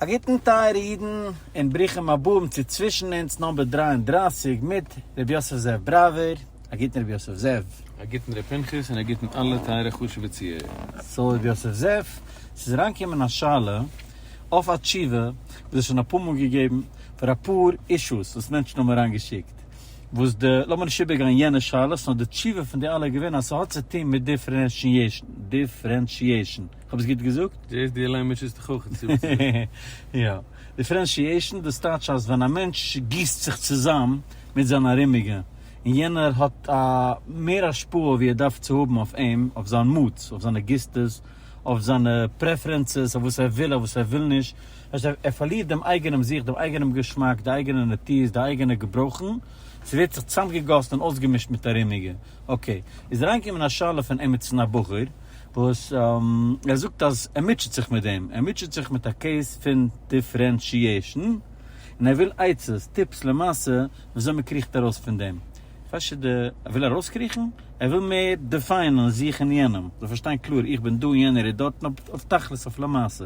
א גוטן טייערע אידן און ברוכים הבאים צו צווישן אונז נאמבער דרײַ און דרײַסיק מיט ר' יוסף זאב בראווער, א גוטן ר' יוסף זאב. א גוטן ר' פנחס און א גוטן אלע טייערע חשובע צוהערער. סאו ר' יוסף זאב, ס'איז אריינגעקומען א שאלה אויף א תשובה וואס איז שוין אפאר מאל געגעבן פאר אפאר אישוס וואס מענטשן האבן אריינגעשיקט, וואס די, לאמיר נישט איבערגיין יענע שאלות, נאר די תשובה פון די אלע איז געווען אז ס'האט צו טון מיט דיפרענשיעשן. כ'האב עס גוט געזאגט? דו זעסט? דו אליין ביסט נישט אין חכם צו זאגן וואס צו זאגן. יא. דיפרענשיעישן, דאס טייטש אז ווען א מענטש גיסט זיך צוזאם מיט זיין ארומיגע, און יענער האט א מער השפעה ווי ער דארף צו האבן אויף אים, אויף זיין מוטס, אויף זיינע גיסטעס, אויף זיינע פרעפרענסעס, אויף וואס ער וויל, אויף וואס ער וויל נישט. דאס הייסט, ער פארלירט דעם אייגענעם זיך, דעם אייגענעם געשמאק, די אייגענע נטיות, די אייגענע געברויכן, ס'ווערט זיך צוזאמגעגאסן און אויסגעמישט מיט ארומיגע. אקעי. איז אריינגעקומען א שאלה פון עמיצן א בחור, וואס ער זאגט אז ער מוטשעט זיך מיט דעם, ער מוטשעט זיך מיט א קעיס פון דיפרענשיעשן, און ער וויל עצות, טיפס למעשה, וויאזוי מען קריכט ארויס פון דעם. פשוט די, ער וויל ארויסקריכן, ער וויל מער דעפיינען זיך און יענעם, זאל פארשטיין קלאר, איך בין דא און יענער איז דארט, און אויף תכלית, אויף למעשה.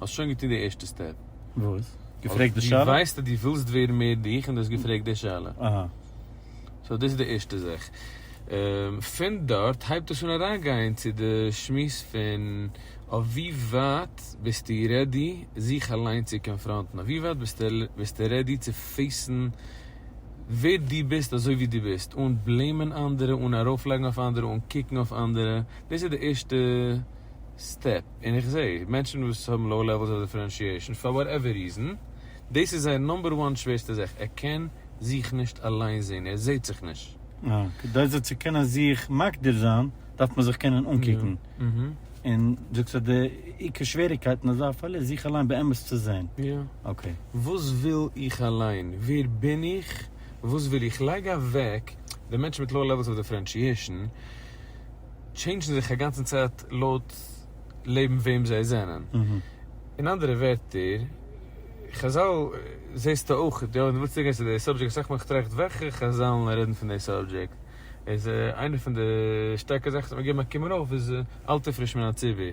האסט שוין געטון די ערשטע סטעפ. וואס? געפרעגט די שאלה? די ווייסט אז די ווילסט ווערן מער דיך און די האסט געפרעגט די שאלה. אהא. סאו דאס איז די ערשטע זאך. פון דארט הייבט עס אן אריינגיין צו די שמועס פון אויף ווי ווייט ביסטו רעדי זיך אליין צו קאנפראנטן, אויף ווי ווייט ביסטו רעדי צו פעיסן ווער דו ביסט אזוי ווי דו ביסט, אן בלעימען אנדערע, אן ארויפלייגן אויף אנדערע, אן קוקן אויף אנדערע. דאס איז די ערשטע סטעפ. און איך זעה מענטשן וואס האבן לאו לעוועלס אוו דיפרענשיעשן פאר וואט עווער ריזן, דאס איז זייער נאמבער וואן שווערסטע זאך, ער קען זיך נישט אליין זעהן, ער זעהט זיך נישט. יא, כדי זיך צו קענען זיך מגדיר זיין דארף מען זיך קענען אנקוקן, און דו זאגסט אז די עיקר שוועריקייט אין אזא פאל איז זיך אליין באמת צו זעהן. יא. אקעי. וואס וויל איך אליין? ווער בין איך? וואס וויל איך? לייג אוועק די מענטשן מיט לאו לעוועלס אוו דיפרענשיעשן. טשעינדזשן זיך אגאנצן צייט לויט לעבן וועם זיי זענען. אין אנדערע ווערטער, חזל זעסטו אויך, יא, און דו ווילסט צוריקגיין צו די סאבדזשעקט, אסאך מאל איך טראכט וועלכע חזל'ן רעדן פון די סאבדזשעקט, איז איינע פון די שטארקע זאכן וואס מיר געבן א קומען אויף איז אלטע פריש מן הצבי.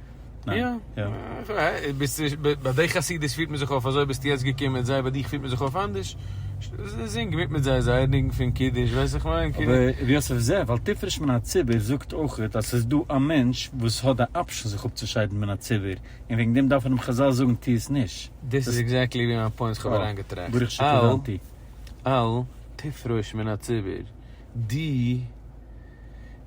יא, ביי די חסידות פירט מען זיך אויף אזוי, ביסטו יעצט געקומען מיט זיי, ביי דיך פירט מען זיך אויף אנדערש, זינג מיט מיט זיי זייער ניגון פון קידוש, ווייסט איך מיין כאילו. אבער ר' יוסף זעה, ווייל תפרש מן הציבור זאגט אויך אז ס'איז דא א מענטש וואס האט די אפשן זיך אפצושיידן מן הציבור, און וועגן דעם דארפן אים חזל זאגן טו עס נישט. דאס איז עקזעקטלי ווי מיין פוינט, כ'האב אריינגעטראכט. ברוך שכוונתי. אל תפרוש מן הציבור, די.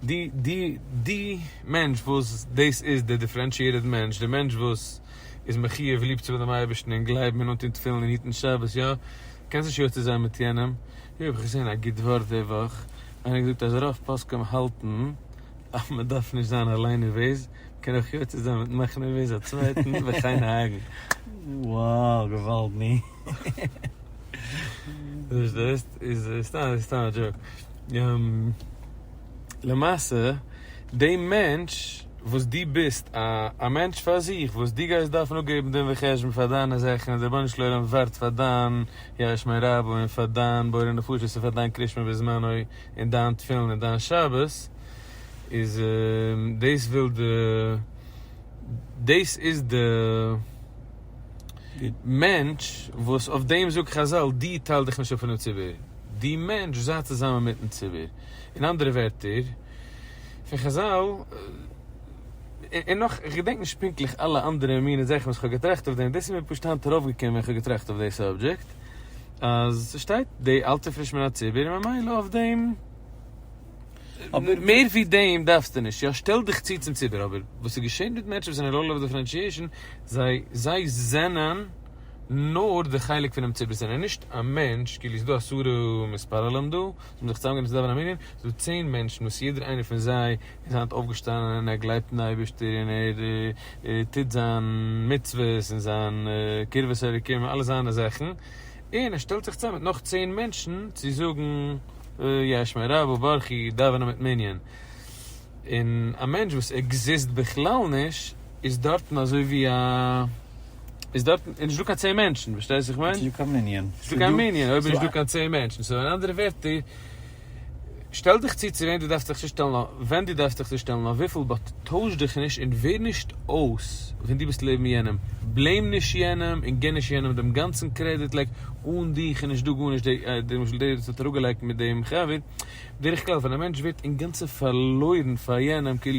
די די די מענטש וואס דאס איז די דיפרענשיעטעד מענטש, די מענטש וואס איז מחיוב ליב צו האבן דעם אייבערשטן און גלייבן און אנטון תפילין און היטן שבת, יא? קענסט נישט יוצא זיין מיט יענעם? יו איך האב געזען א גוט ווארט די וואך, איינער האט געזאגט אז רוב פוסקים האלטן אז מען דארף נישט זיין אליין נערוועז, מען קען אויך יוצא זיין מיטן מאכן נערוועז א צווייטן וכן האגן. וואו געוואלד ני. פארשטייסט? איז סתם סתם א דזשאוק. למעשה די מענטש וואס דו ביסט א א מענטש פאר זיך וואס דו גייסט דארפן אפגעבן דין וחשבון פאר דיינע זאכן און די רבונו של עולם ווארט פאר דיין יש מאין רבו און פאר דיין בורא נפשות און פאר דיין קרישמע בזמנו און דיין תפילין און דיין שבת איז דאס וויל די דאס איז די די מענטש וואס אויף דעם זאגט חזל דו טייל דיך נישט אפ פונעם ציבור, דו מענטש זיי צוזאמען מיטן ציבור, אין אנדערע ווערטער פון חזל, און נאך איך געדענק נישט פונקטליך אלע אנדערע מיני זאכן וואס כ'האב געטראכט אויף דעם, דאס איז מיר פשוט היינט ארויפגעקומען ווען כ'האב געטראכט אויף די סאבדזשעקט, אז ס'שטייט די אל תפריש מן הציבור ממילא אויף דעם. אבער מער ווי דעם דארפסטו נישט, יא שטעל דיך צו צום ציבור, אבער וואס איז געשען מיט מענטשן וואס זענען לולא בדיפרענטשיעשן, זיי זיי זענען נאר די חלק פונעם ציבור, זיי זענען נישט א מענטש, כאילו ס'דא עשרה מספרלם דא, זיי האבן זיך צוזאמגענומען צו דאווענען א מנין, ס'דא צען מענטשן וואס יעדער איינער פון זיי איז היינט אויפגעשטאנען און ער גלייבט אין אייבערשטער און ער טוט זיין מצוות און זיין קרבת אלוקים און אלע זיינע זאכן, און ער שטעלט זיך צוזאם מיט נאך צען מענטשן צו זאגן יש מ רבא ברכי דאווענען מיט מנין, און א מענטש וואס עקזיסט בכלל נישט איז דארטן אזוי ווי א, איז דארטן, איז נישטא קיין צען מענטשן, פארשטייסט וואס איך מיין? נישטא קיין מנין. נישטא קיין מנין אויב איז נישטא קיין צען מענטשן, סאו אין אנדערע ווערטער. שטעל דיך צו צו וועם דו דארפסט דיך צושטעלן נאר ווען דו דארפסט דיך צושטעלן נאר וויפיל באט טויש דיך נישט און ווער נישט אויס ווען דו ביסט לעבן יענעם בלעים נישט יענעם און גיב נישט יענעם דעם גאנצן קרעדיט לייג אן דיך איז נישט דא גארנישט דער דער למשל דער וואס האט אראפגעלייגט מיט דעם חבר בדרך כלל ווען א מענטש ווערט אינגאנצן פארלוירן פאר יענעם כאילו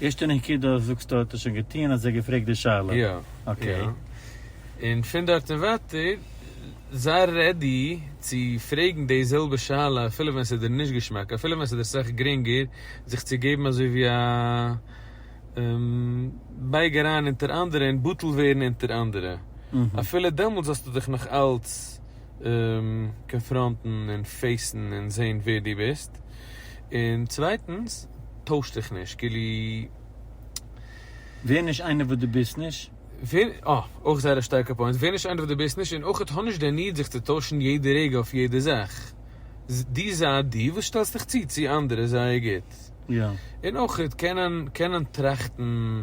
ערשטע נקודה זאגסטו האט ער שוין געטוען אז ער האט געפרעגט די שאלה. יא. אקעי. יא. און פון דארט און ווייטער זיי רעדי צו פרעגן די זעלבע שאלה אפילו ווען ס'איז דיר נישט געשמאק אפילו ווען ס'איז דיר סאך גרינגער זיך צו געבן אזוי ווי א בייג אריין אונטער אנדערע און בטל ווערן אונטער אנדערע אפילו דעמאלטס זאלסטו דיך נאך אלץ קאנפראנטן און פעיסן און זעהן ווער דו ביסט, און צווייטנס טויש דיך נישט כאילו. ווער נישט איינער וואס דו ביסט נישט. ווער, אה, אויך זייער א שטארקע פוינט, ווער נישט איינער וואס דו ביסט נישט, און אויכעט האב נישט די ניד זיך צו טוישן יעדע רגע אויף יעדע זאך, דו זיי דו וואס שטעלסט דיך צו צו אנדערע זייער גוט, און אויכעט קענען קענען טראכטן.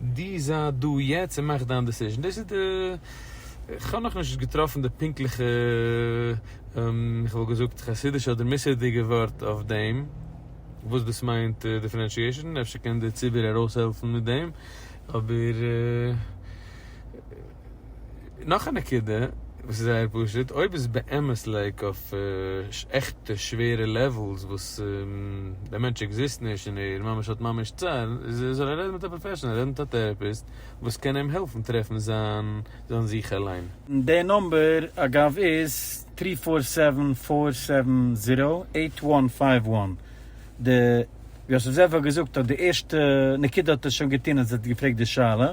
די זיי דא יעצט און מאך דיין דעסיזשען, דאס איז די, איך האב נאכנישט געטראפן די פונקטליכע, איך וואלט געזאגט חסידישע אדער מוסר'דיגע ווארט אויף דעם, וואס דאס מיינט דיפרענשיעישאן, אפשר קען דער ציבור ארויסהעלפן מיט דעם, אבער. נאך א נקודה וואס איז זייער פשוט, אויב איז באמת לעיק אויף עכטע שווערע לעוועלס וואס דער מענטש עקזיסט נישט און ער ממש האט ממש צער, זאל ער רעדן מיט א פראפעשענעל, רעדן מיט א טערעפיסט וואס קען אים העלפן טרעפן זיין זיך אליין. די נומבער אגב איז טרי פאר סעווען פאר סעווען זירא עיט וואן פייוו וואן. די יוסף זאב האט געזאגט אז די ערשטע נקודה האט ער שוין געטון אז ער האט געפרעגט די שאלה.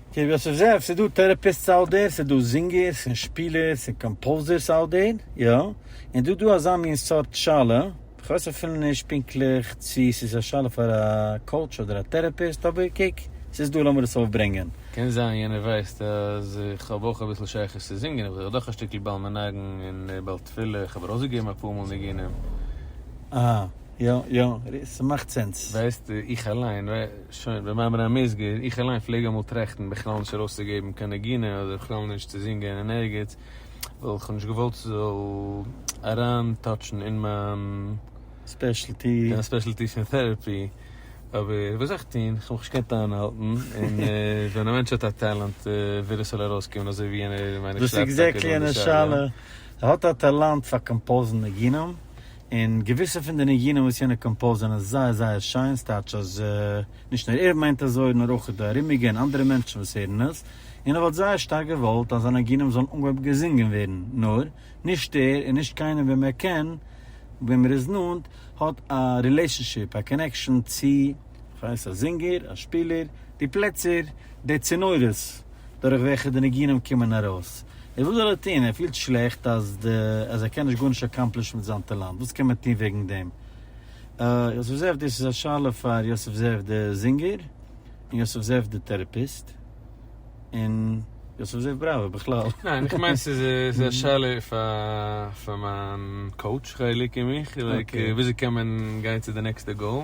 קוק וואס איך זעה, ס'איז דא טערעפיסטס אוט דער, ס'איז דא זינגערס און שפילערס און קאמפאוזערס אוט דער, יא, און דא דא אזא מין סארט שאלה, איך ווייס אפילו נישט פונקטליך צו ס'איז א שאלה פאר א קאוטש אדער א טערעפיסט, אבער קוק, ס'איז דא לאמיר עס אויפברענגען. קען זיין יענער ווייסט אז איך האב אויך אביסל שייכות צו זינגען, איך בין דאך דאך א שטיקל בעל מנגן און בעל תפילה, איך האב ארויסגעגעבן אפאר מאל ניגונים. אהה, יא יא, ס'מאכט סענס. ווייסט איך אליין. שוין, במאמר המוסגר, איך אליין פלעג אמאל טראכטן בכלל נישט ארויסצוגעבן קיין נגינה אדער בכלל נישט צו זינגען אין ערגעץ, ווייל איך האב נישט געוואלט ס'זאל אריין טאטשן אין מיין. ספעשעלטי. יא, ספעשעלטי פון טעראפי. אבער וואס זאל איך טון, כ'האב מיך נישט געקענט איינהאלטן, און ווען א מענטש האט א טאלאנט וויל ער ס'זאל ארויסקומען אזוי ווי יענער מיין איך שרייבט טאקע דא די שאלה. דאס איז עקזעקטלי און די שאלה. ער האט א טאלאנט פאר קאמפאוזן נגינים, און געוויסע פון די ניגונים וואס יענער קאמפאוזט זענען זייער זייער שיין, ס'טייטש אז נישט נאר ער מיינט אזוי נאר אויך די ארומיגע און אנדערע מענטשן וואס הערן עס, און ער וואלט זייער שטארק געוואלט אז זיינע ניגונים זאלן אנגעהויבן געזינגען ווערן, נאר, נישט ער און נישט קיינער וועם ער קען, וועם ער איז נאנט, האט א רילעישאנשיפ, א קאנעקשאן צו. כ'ווייס אז זינגער, אז שפילער, די פלעצער, די צינורות דורך וועלכע די ניגונים קומען ארויס. איז וואס זאל ער טון? ער פילט שלעכט אז אז ער קען נישט גארנישט אקאמפלישן מיט זיין טאלאנט. וואס קען מען טון וועגן דעם? אה, יוסף זאב, דאס איז א שאלה פאר יוסף זאב די זינגער, און יוסף זאב די טערעפיסט, און יוסף זאב בראווער בכלל. ניין, איך מיין ס'איז ס'איז א שאלה פאר מיין קאוטש חיליק און מיך, לייק וויאזוי קען מען גיין צו די נעקסטע גאול.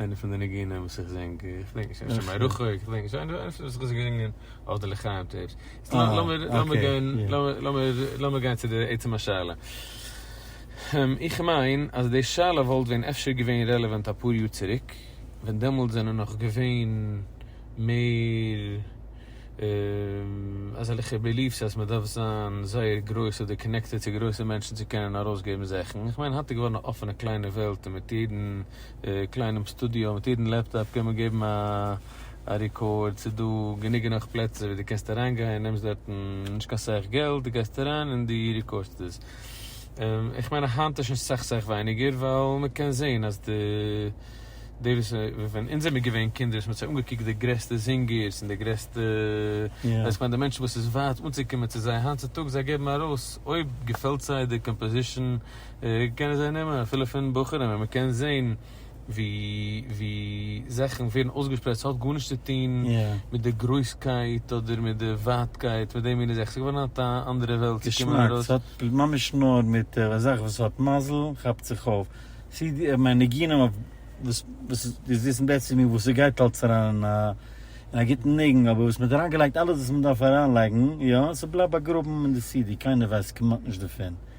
איינע פון די ניגונים וואס איך זינג, איך דענק נישט, השם ירחק, איך דענק נישט, איינע פון די זאכן וואס איך האב געזינגען אויף די לחיים טעיפס. לאמיר גיין, לאמיר גיין צו די עצם השאלה. איך מיין אז די שאלה וואלט ווען אפשר געווען רעלעווענט אפאר יאר צוריק, ווען דעמאלטס זענען נאך געווען מער אזעלכע בעליף'ס אז מ'דארף זיין זייער גרויס אדער קאנעקטעד צו גרויסע מענטשן צו קענען ארויסגעבן זאכן. איך מיין היינט איז געווארן א אפענע קליינע וועלט און מיט יעדן קליינעם סטודיאו מיט יעדן לעפטאפ קען מען געבן א ריקארד, ס'איז דא גענוג גענאך פלעצער ווי די קענסט אריין גיין, נעמסט דארטן נישט קיין סאך געלט, די גייסט אריין און די ריקארדסט דאס, איך מיין אז היינט איז שוין סאך סאך ווייניגער ווייל מען קען זעהן אז די די וואס ווען אונז זעמיר געווען קינדער האט מען זיך אנגעקוקט די גרעסטע זינגערס און די גרעסטע איך מיין די מענטשן וואס איז ווייט אנצוקומען צו זיי היינט צוטאגס זיי געבן ארויס אויב געפעלט זיי די קאמפאזישן קענען זיי נעמען אפילו פון בחורים און מ'קען זעהן ווי ווי זאכן ווערן אויסגעשפרייט ס'האט גארנישט צו טוהן מיט די גרויסקייט אדער מיט די ווייטקייט מיט די מינע זאכן ס'איז געווארן א אנדערע וועלט צו קומען ארויס. געשמאק, ס'האט ממש נאר מיט א זאך וואס האט מזל כאפט זיך אויף, סידי איך מיין ניגונים אויף וואס וואס די זיסן בעצם מיר וואס ס'גייט אלס אריין אין א אין א גוטן ניגון אבער וואס מ'האט אריינגעלייגט אלעס וואס מ'דארף אריינלייגן יא ס'בלייבט באגראבן אין די סידי קיינער ווייסט כמעט נישט דערפון.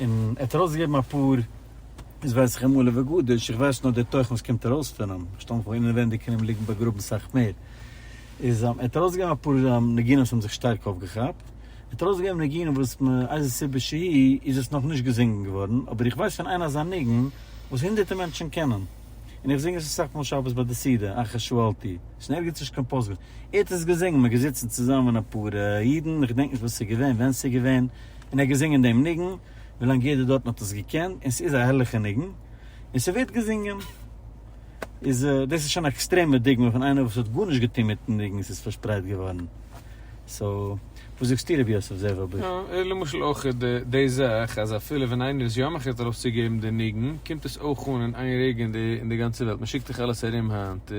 און ער האט ארויסגעגעבן אפאר, איז ווייס איך אים עלה וגודש, איך ווייס נאר דער תוכן וואס קומט ארויס פון אים, איך שטעל מיך פאר אינעווענדיג קען אים ליגן באגראבן סאך מער, איז ער האט ארויסגעגעבן אפאר ניגונים וואס האבן זיך שטארק אויפגעכאפט, ער האט ארויסגעגעבן ניגונים וואס מאיזה סיבה שהיא איז עס נאך נישט געזינגען געווארן, אבער איך ווייס פון איין אזא ניגון וואס הונדערטער מענטשן קענען, און איך זינג עס אסאך מאל שבת ביי די סעודה, אחר שאלתי, עס איז ערגעץ נישט קיין פסגה, ער האט עס געזינגען, מען איז געזיצן צוזאמען אפאר אידן, איך געדענק נישט וואס עס איז געווען, ווען עס איז געווען. און ער האט געזינגען דעם ניגון ווילאנג יעדער דארטן האט עס געקענט, און ס'איז א הערליכע ניגון, און ס'ווערט געזינגען, איז דאס איז שוין א עקסטרעמע דוגמא פון איינער וואס האט גארנישט געטון מיטן ניגון, ס'איז פארשפרייט געווארן, סאו וואס זאגסטו ר' יוסף זאב אבער? יא, און למשל אויך די זאך אז אפילו ווען איינער איז יא מחליט ארויסצוגעבן די ניגון, קומט עס אויך אן אין איין רגע אין די גאנצע וועלט, מ'שיקט דאך אלעס ארום היינט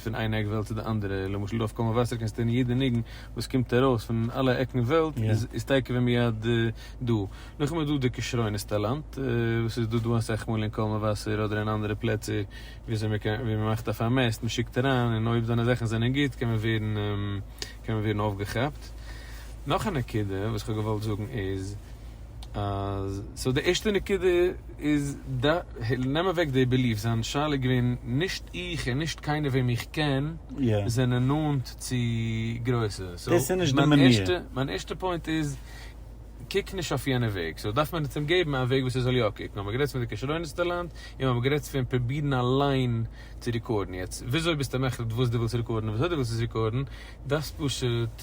פון איין עק וועלט צו די אנדערע, למשל דא אויף קול מבשר קענסטו הערן יעדע ניגון וואס קומט ארויס פון אלע עקן וועלט איז טייקע ווי מיד דא. נאכדעם איז דא די כשרונות טאלאנט וואס איז דא דא אסאך מאל אין קול מבשר אדער אין אנדערע פלעצער וויאזוי מען קען ווי מען מאכט א פארמעסט מען שיקט אריין און אויב דיינע זאכן זענען גוט קען מען ווערן קען מען ווערן אויפגעכאפט. נאך א נקודה וואס איך האב געוואלט זאגן איז. סאו די ערשטע נקודה איז נעם אוועק די בעליף, זיין שאלה איז געווען נישט איך און נישט קיינער וועם איך קען זענען נאנט צו גרויסע, מיין ערשטע פוינט איז קוק נישט אויף יענע וועג, סאו דארף מען יעצט אים געבן א וועג וואס ער זאל יא קוקן, האבן מיר גערעדט פון די כשרונות טאלאנט, און מיר האבן גערעדט פון פרובירן אליין צו רעקארדן, יעצט וויאזוי ביסטו מחליט וואס דו ווילסט רעקארדן און וויאזוי דו ווילסט עס רעקארדן? דארפסט פשוט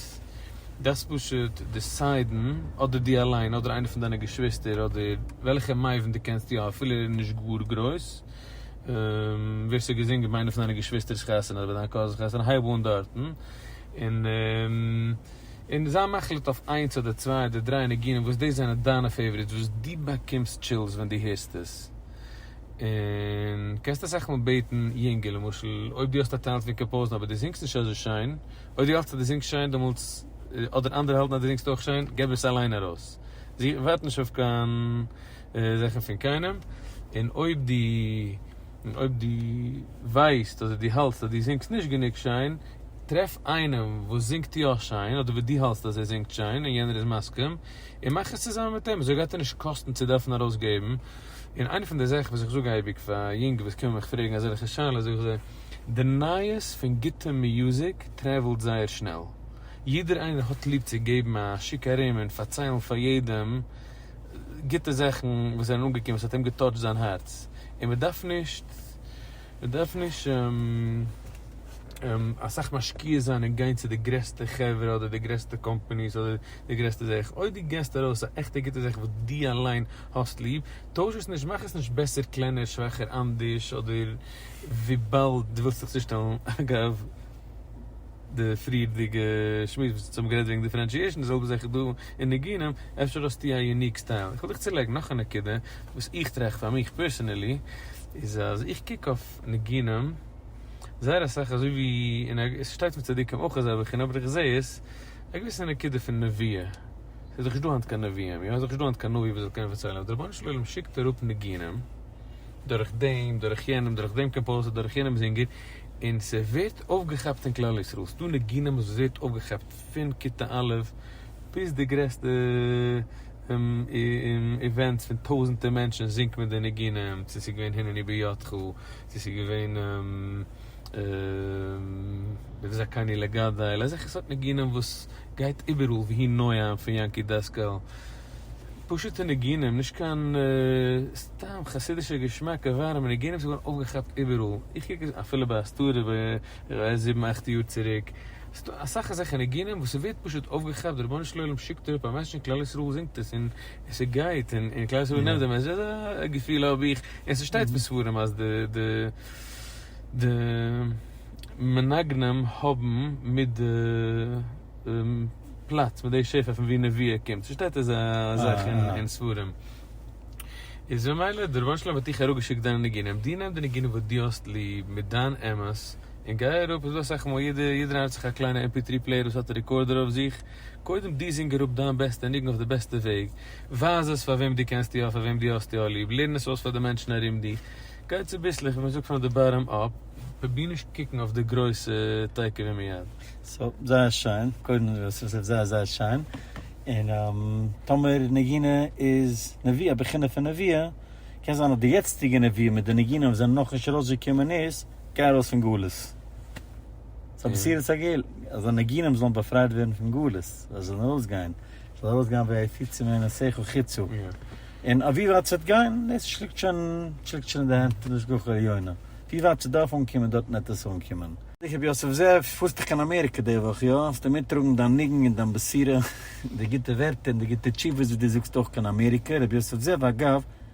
דארפסט פשוט דיסיידן אדער דו אליין אדער איינער פון דיינע געשוויסטער אדער וועלכע מבין דו קענסט יא אפילו ער איז נישט גאר גרויס ווער ס'האט געזינגען ביי איינע פון דיינע געשוויסטער'ס חתונה אדער ביי דיין קאזינ'ס חתונה הייב אן דארטן און און זיי מחליט אויף איינס אדער צוויי אדער דריי ניגונים וואס דאס זענען דיינע פעיוואריטס וואס דו באקומסט טשילס ווען דו הערסט עס. און קענסט אסאך מאל בעטן יונגע למשל אויב דו האסט א טענט פון קאמפאוזן אבער דו זינגסט נישט אזוי שיין, אויב דו האלטסט אז דו זינגסט שיין דעמאלטס, אדער אנדערע האלטן אז דו זינגסט אויך שיין, געב עס אליין ארויס. זי ווארט נישט אויף קיין זאכן פון קיינעם, און אויב דו, און אויב דו ווייסט אדער דו האלטסט אז דו זינגסט נישט גענוג שיין, טרעף איינעם וואס זינגט יא שיין, אדער וואס דו האלטסט אז ער זינגט שיין און יענער איז מסכים, און מאך עס צוזאמען מיט אים, אזוי גייט דיר נישט קאסטן צו דארפן ארויסגעבן. און איינע פון די זאכן וואס איך זאג אייביג פאר יונגע וואס קומען מיך פרעגן אזעלכע שאלות זאג איך זיי, די נייעס פון גוטע מיוזיק טרעוולט זייער שנעל, יעדער איינער האט ליב צו געבן א שיק ארום און פארציילן פאר יעדעם גוטע זאכן וואס זענען אנגעקומען וואס האט אים געטאטשט זיין הארץ, און מען דארף נישט מען דארף נישט אסאך משקיע זיין און גיין צו די גרעסטע חברה אדער די גרעסטע קאמפאניס אדער די גרעסטע זאך, אויב דו געסט ארויס א עכטע גוטע זאך וואס דו אליין האסט ליב, טויש עס נישט, מאך עס נישט בעסער, קלענער, שוועכער, אנדערש, אדער וויבאלד דו ווילסט זיך צושטעלן, אגב, די פריערדיגע שמועס וואס אונז האבן גערעדט וועגן דיפרענשיעשן, די זעלבע זאך איז דא אין ניגונים, אפשר האסטו א יוניק סטייל. איך וויל דיך צולייגן נאך א נקודה, וואס איך טראכט פאר מיך פערסענעלי, איז אז איך קוק אויף ניגונים זייער אסאך אזוי ווי אין א, עס שטייט אין צדיקים אויך אזעלכע, אבער איך זע עס א געוויסע נקודה פון נביאה, ס'איז דאך נישט דא היינט קיין נביאים, יא? איז דאך נישט דא היינט קיין נביא וואס זאל קענען פארציילן, אבער דער רבונו של עולם שיקט אראפ ניגונים, דורך דעם, דורך יענעם, דורך דעם קאמפאוזער, דורך יענעם זינגער, און ס'ווערט אויפגעכאפט אין כלל ישראל. ס'איז דא ניגונים וואס ווערט אויפגעכאפט פון כיתה א' ביז די גרעסטע איווענטס פון טויזענטער מענטשן זינגט מען די ניגונים, צו ס'איז געווען הנני בידך, צו ס'איז געווען דאס איז קאני לגדל, אזעלכע סארט ניגונים וואס גייט איבעראל והי' נועם פון יענקי דעסקאל, פשוטע ניגונים, נישט קיין סתם חסידישע געשמאקע ווארעמע ניגונים ס'איז געווארן אויפגעכאפט איבעראל, איך קוק עס אפילו ביי הסתרה ביי זיבן אכט יאר צוריק, ס'דא אסאך אזעלכע ניגונים וואס ס'ווערט פשוט אויפגעכאפט, די רבונו של עולם שיקט אראפ א מעסעדזש און כלל ישראל זינגט עס און. עס איז גייט און און כלל ישראל נעמט דעם ענדזשעל איז א געפיל האב איך און ס'שטייט אין ספרים אז די די די מנגנים האבן מיט די פלאץ מיט די שפע פון ווי נביאה קומט ס'שטייט אזא זאך אין ספרים איז ממילא די רבונו של עולם האט דיך אראפגעשיקט דיינע ניגונים דו נעם די ניגונים וואס דו האסט ליב מיט דיין אמת און גיי אראפ איז דא אסאך מאל יעדער יעדער איינער האט זיך א קליינע mp3 פלעיער וואס האט רעקארדער אויף זיך. קודם דו זינג אראפ דיין בעסטע ניגון אויף די בעסטע וועג, ווייז עס פאר וועם דו קענסט יא, פאר וועם דו האסט יא ליב, לערן עס אויס פאר די מענטשן ארום דיר, גיי צוביסלעך ווי מען זאגט פראם די באטאם אפ, פרוביר נישט קוקן אויף די גרויסע תיכף ומיד. סא זייער שיין, קודם דו האסט עס אויף זייער זייער שיין, און טאמער נגינה איז נביא א בחינה פון נבואה, קען זיין אז די יעצטיגע נביאים מיט די ניגונים וואס זענען נאכנישט ארויסגעקומען איז, גיי ארויס פון גלות. ס'איז א מסירת הגעל, אז די ניגונים זאלן באפרייט ווערן פון גלות, זיי זאלן ארויסגיין, ס'זאל ארויסגיין ווי העפיצים מן השכל חיצו, און אויף ווי ווייט ס'וועט גיין, דאס שליגט שוין, שליגט שוין אין די הענט פון די השגחה העליונה, ווי ווייט ס'דארף אנקומען דארטן וועט עס אנקומען. רבי יוסף זאב, פארסט דאך קיין אמעריקע די וואך, איא? האסטו מיטטראגן דיין ניגון און דיין בסירה, די גוטע ווערטער און די גוטע תשובות וואס דו זאגסט אויך קיין אמעריקע, רבי יוסף זאב, אגב,